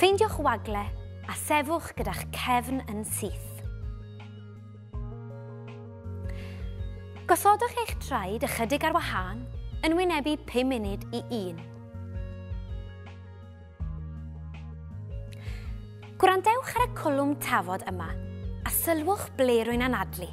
Ffeindiwch wagle a sefwch gyda'ch cefn yn syth. Gosodwch eich traed ychydig ar wahân yn wynebu 5 munud i 1. Gwrandewch ar y cwlwm tafod yma a sylwch ble rwy'n anadlu.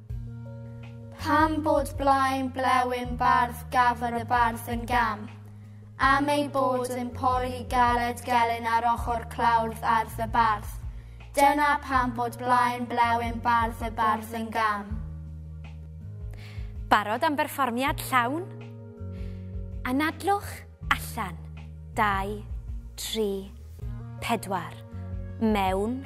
Pam bod blaen blewyn bardd gafr y bardd yn gam? Am ei bod yn pori galed gelyn ar ochr clawrdd ardd y bardd. Dyna pam bod blaen blewyn bardd y bardd yn gam. Barod am berfformiad llawn? Anadlwch allan. Dau, tri, pedwar. Mewn.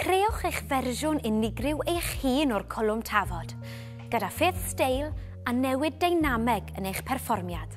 Creewch eich fersiwn unigryw eich hun o'r cwlwm tafod, gyda ffyrdd steil a newid deinameg yn eich perfformiad.